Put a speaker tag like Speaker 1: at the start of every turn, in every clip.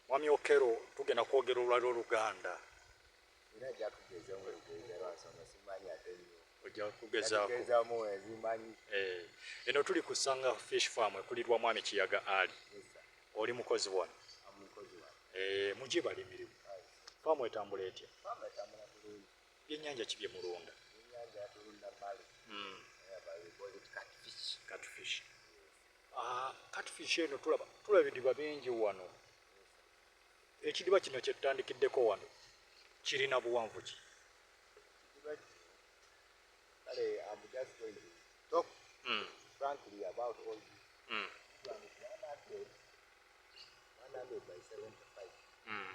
Speaker 1: Mwami Okero tugenda kwogera olwali oluganda eh, eno tuli ku Sanga Fish Farm ekulirwa Mwami Kiyaga Ali oli mukozi wano eh, mugibalimirim faamu etambula etya Byennyanja ki bye mulunda? Byennyanja tulunda male. Mm. Catfish. Ah, catfish eno tulaba tulaba ebidiba bingi wano. Ekidiba kino kye tutandikiddeko wano kirina buwanvu ki? Kale,
Speaker 2: I'm just going to talk mm. frankly about all this. Mm. 100 by 75. Mm.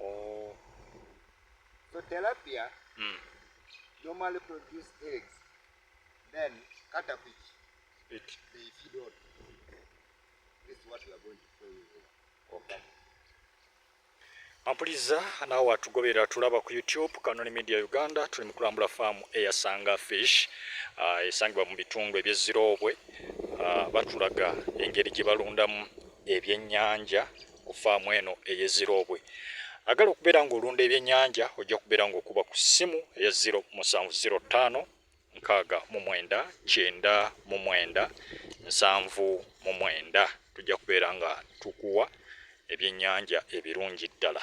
Speaker 2: Oh. So tilapia mm. normally produce eggs, then caterpillar, it. they feed on. This is what we are going to show you here.
Speaker 1: Okay. Ampuliza naawe watugoberera tulaba ku YouTube Kanoni Media Uganda tuli mu kulambula faamu eyasanga fish uh, esangibwa mu bitundu ebyeziroobwe uh, batulaga engeri gye balundamu ebyennyanja ku faamu eno eye ziroobwe agala okubeera ng'olunda ebyennyanja ojja kubeera ng'okuba ku ssimu eya 0705 nkaaga mu mwenda kyenda mu mwenda nsanvu mu mwenda tujja kubeera nga tukuwa ebyennyanja ebirungi ddala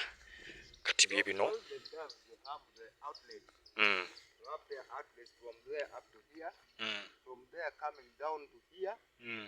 Speaker 1: kati bye bino
Speaker 2: mm. Mm.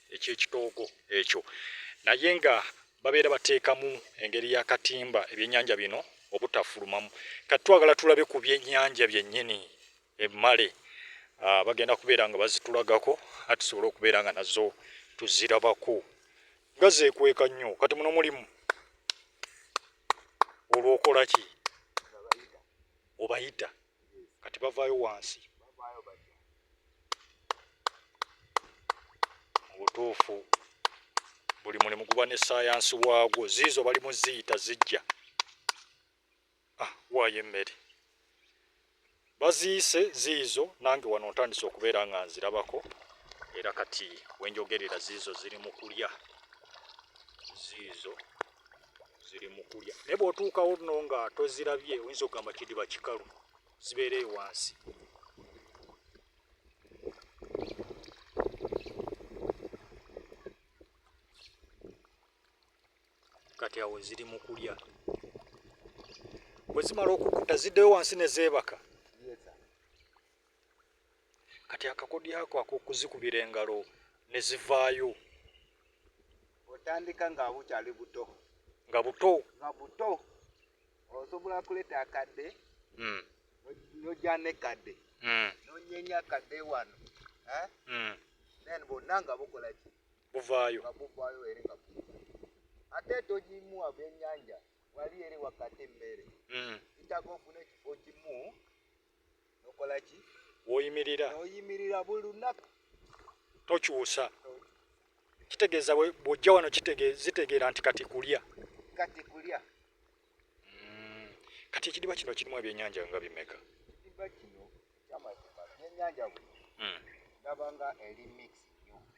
Speaker 1: ekyekitoogo ekyo naye nga babeera bateekamu engeri ya katimba ebyenyanja bino obutafulumamu kati twagala tulabe ku byenyanja byennyini emmale ah, bagenda kubeera nga bazitulagako a tusobole okubeera nga nazo tuzirabako nga zekweka nnyo kati muno mulimu olwokola ki obayita kati bavaayo wansi mu butuufu buli mulimu guba ne sayansi waagwo ziizo bali mu ziyita zijja ah, waayo emmere baziise ziizo nange wano ntandise okubeera nga nzirabako era kati wenjogerera ziizo ziri mu kulya ziizo ziri mu kulya naye bw'otuukawo no nga tozirabye oyinza okugamba kidiba kikalu zibeera eyo wansi kati awo ziri mu kulya bwe zimala okukuta ziddeyo wansi ne zeebaka kati akakodyo ako ak'okuzikubira engalo ne zivaayo
Speaker 2: otandika nga bukyali buto nga buto
Speaker 1: nga buto osobola
Speaker 2: kuleeta akadde hmm. nojja nekadde hmm. nonyenya akadde wano eh? hmm. then bonna nga bukola ki buvaayo nga
Speaker 1: buvaayo eri nga
Speaker 2: ate togimuwa byenyanja wali eri wakati mmere itaga ofuna ekifo kimu nokola ki woyimirira oyimirira buli lunaku tokyusa
Speaker 1: kitegeeza bwojja wano zitegeera nti kati kulya kati kulya mm. kati ekidiba kino kirimu ebyenyanja nga bimeka ekidiba kino
Speaker 2: kyamazima byenyanja bino mm. ndabanga eri mix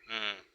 Speaker 2: mm.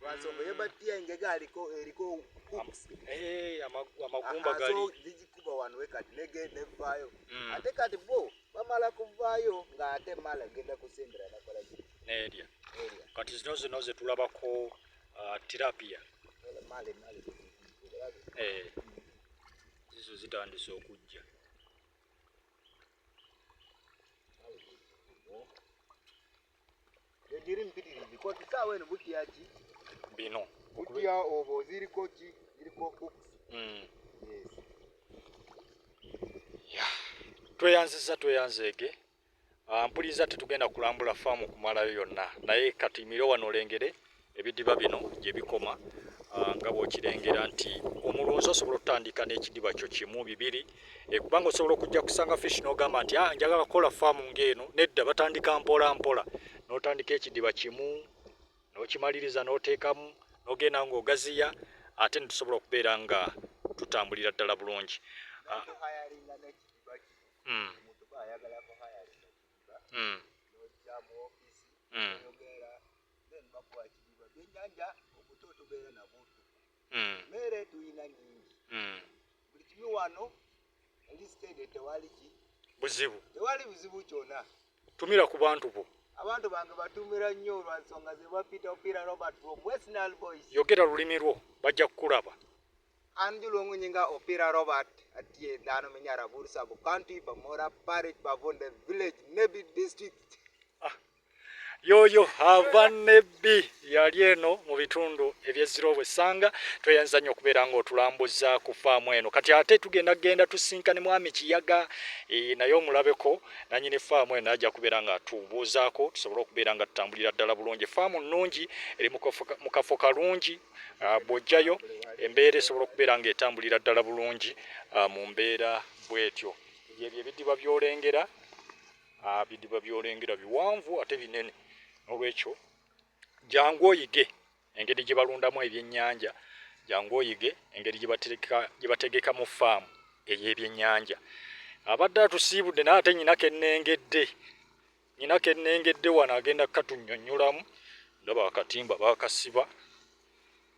Speaker 2: Lwansonga ye bati ya engege aliko eriko hooks. Eh, amagu- Ah,
Speaker 1: amagumba ah, gali so zigikuba wano we
Speaker 2: kati nege nevaayo Mm. ate kati bo bamala kuvaayo ng'ate mala genda kusembera nakola ki nerya area
Speaker 1: kati zino zino zetulabako uh, tilapia Wala male male eh, zizo zitandise okujja
Speaker 2: egiri mpitirizi koti saawa eno butya ki bino
Speaker 1: butya obo
Speaker 2: ziriko ki ziriko books mm. yes.
Speaker 1: yeah. tweyanziza tweyanzeege ah, mpuliza tetugenda kulambula faamu kumalayo yonna naye katuyimire wano olengere ebidiba bino gye bikoma ah, nga bw'okirengera nti omulunzi osobola okutandika n'ekidiba kyo kimu bibiri eh, kubanga osobola okujja kusanga fish n'ogamba nti ah, njagala kukola faamu ng'eno nedda batandika mpola mpola n'otandika ekidiba kimu n'okimaliriza n'oteekamu n'ogenda ng'ogaziya ate ne tusobola okubeera nga tutambulira ddala bulungi ah. hmm. Hmm.
Speaker 2: mere tuyina nyingi hmm. buli kimu wano ndisitede tewali ki buzibu tewali buzibu kyona tumira ku bantu
Speaker 1: bo abantu bange batumira
Speaker 2: nnyo olwansonga zebapita opira robert from westnal boys yogera lulimi lwo
Speaker 1: bajja kukulaba anjulongunyi
Speaker 2: nga opira robert atie dhano minyara bursa bu county bamora parish bavonde village nebi district yoyo
Speaker 1: ava nebbi yali eno mu bitundu ebyezira obwesanga tweyanza nnyo okubeera nga otulambuza ku faamu eno kati ate tugenda genda tusinkane mwami kiyaga e, naye omulabeko nanyini faamu eno ajja kubeera nga tubuuzaako tusobole okubeera nga tutambulira ddala bulungi faamu nnungi eri mu kafo kalungi bwojjayo embeera esobola okubeera nga etambulira ddala bulungi mu mbeera bwetyo byebyo ebidiba byolengera Bidiba byolengera biwanvu ate binene, nolwekyo jangu oyige engeri gye balundamu ebyennyanja, jangu oyige engeri gye bategeka mu faamu ey'ebyennyanja. Abadde atusiibudde naye ate nyina kennengedde, nyina kennengedde wano agenda katunyonnyolamu. Ndaba akatimba bakasiba.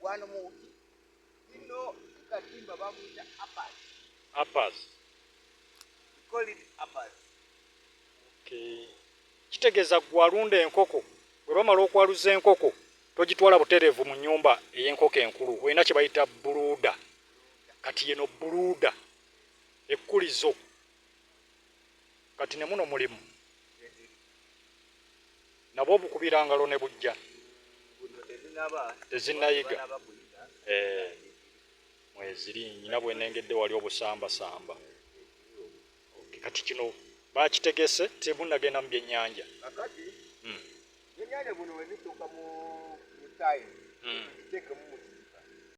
Speaker 2: wano mu ino katimba bamuyita apas apas apas
Speaker 1: kitegeeza gwalunda enkoko bwe bamala okwaluza enkoko togitwala butereevu mu nyumba ey'enkoko enkulu olina kye bayita buluuda kati yeno buluuda ekkulizo kati ne muno mulimu nabwo bukubira ngalo ne bujja tezinayiga eh, mweziri nyina bwenengedde wali obusambasamba kati kino bakitegese tebunagenda mu byenyanja
Speaker 2: hmm. hmm.